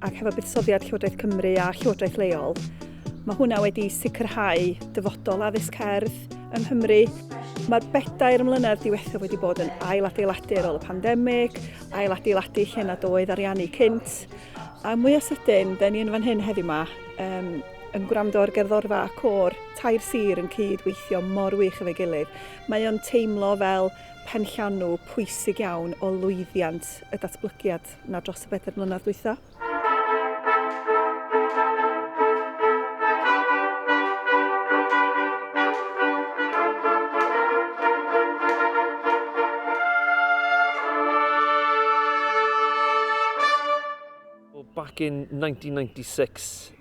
ac hefo buddsoddiad Llywodraeth Cymru a Llywodraeth leol, mae hwnna wedi sicrhau dyfodol addysg cerdd yng Nghymru. Mae'r bedair mlynedd diwethaf wedi bod yn ailadeiladu ar ôl y pandemig, ailadeiladu lle nad oedd ariannu cynt, a mwy o sydyn, da ni yn fan hyn heddiw yma, um, yn gwrando ar gerddorfa a cor, tair sir yn cyd-weithio mor wych efo'i gilydd. Mae o'n teimlo fel penllanw pwysig iawn o lwyddiant y datblygiad. na dros y bedair mlynedd dwytha. back in 1996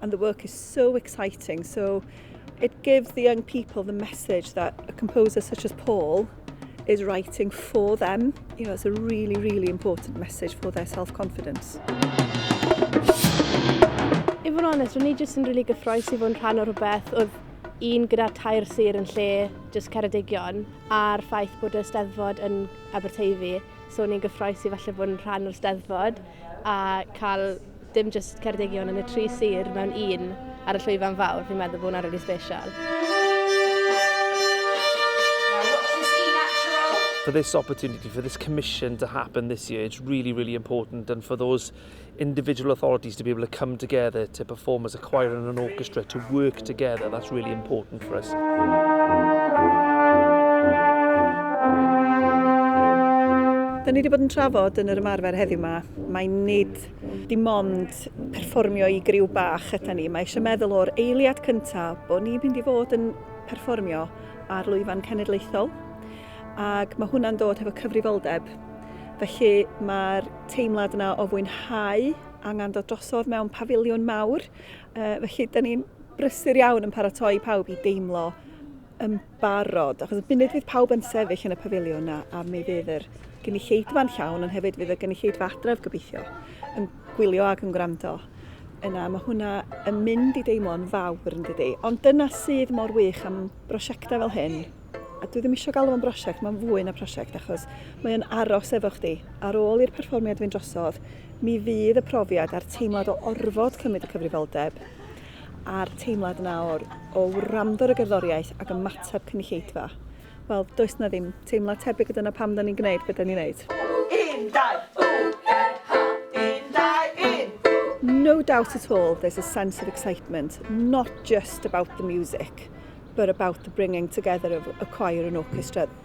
and the work is so exciting. So it gives the young people the message that a composer such as Paul is writing for them. You know, it's a really, really important message for their self-confidence. I fod yn onest, ro'n i jyst yn really gyffroes i fod yn rhan o rhywbeth oedd un gyda tair sir yn lle jyst Ceredigion a'r ffaith bod y steddfod yn Aberteifi. So ni'n gyffroes i falle bod yn rhan o'r steddfod a cael Dim jyst Ceredigion yn y tri sir mewn un ar y llwyfan fawr, fi'n meddwl bod hwnna rili special. for this opportunity, for this commission to happen this year, it's really, really important. And for those individual authorities to be able to come together to perform as a choir and an orchestra, to work together, that's really important for us. Da ni wedi bod yn trafod yn yr ymarfer heddiw yma, mae nid Dim ond perfformio i griw bach yda ni. Mae eisiau meddwl o'r eiliad cyntaf bod ni'n mynd i fod yn perfformio ar lwyfan cenedlaethol ac mae hwnna'n dod hefo cyfrifoldeb. Felly mae'r teimlad yna o fwynhau angen dod drosodd mewn pafiliwn mawr. Felly, da ni'n brysur iawn yn paratoi pawb i deimlo yn barod, achos y funud fydd pawb yn sefyll yn y pafiliwn na, a mi fydd yr gynulleidfa'n llawn, ond hefyd fydd y gynulleidfa adref gobeithio yn gwylio ac yn gwrando. Yna, mae hwnna yn mynd i deimlo'n fawr yn dydy. Ond dyna sydd mor wych am brosiectau fel hyn. A dwi ddim eisiau galw fo'n brosiect, mae'n fwy na prosiect, achos mae'n aros efo chdi. Ar ôl i'r perfformiad fynd drosodd, mi fydd y profiad a'r teimlad o orfod cymryd y cyfrifoldeb a'r teimlad yna o'r, o wrando ar y gerddoriaeth ac ymateb cynulleidfa. Wel, does na ddim teimlad tebyg a dyna pam da ni'n gwneud be da ni'n wneud. Un, dau, ww-e-ha, un, dau, un! No doubt at all there's a sense of excitement, not just about the music, but about the bringing together of a choir and orchestra.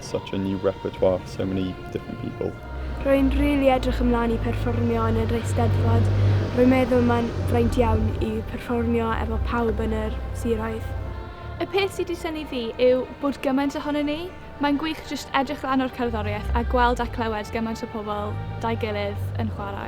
such a new repertoire for so many different people. Rwy'n rili really edrych ymlaen i perfformio yn yr Eisteddfod. Rwy'n meddwl mae'n fraint iawn i perfformio efo pawb yn yr siroedd. Y peth sydd wedi synnu fi yw bod gymaint ohonyn ni. Mae'n gwych jyst edrych lan o'r cerddoriaeth a gweld a clywed gymaint o pobl da'i gilydd yn chwarae.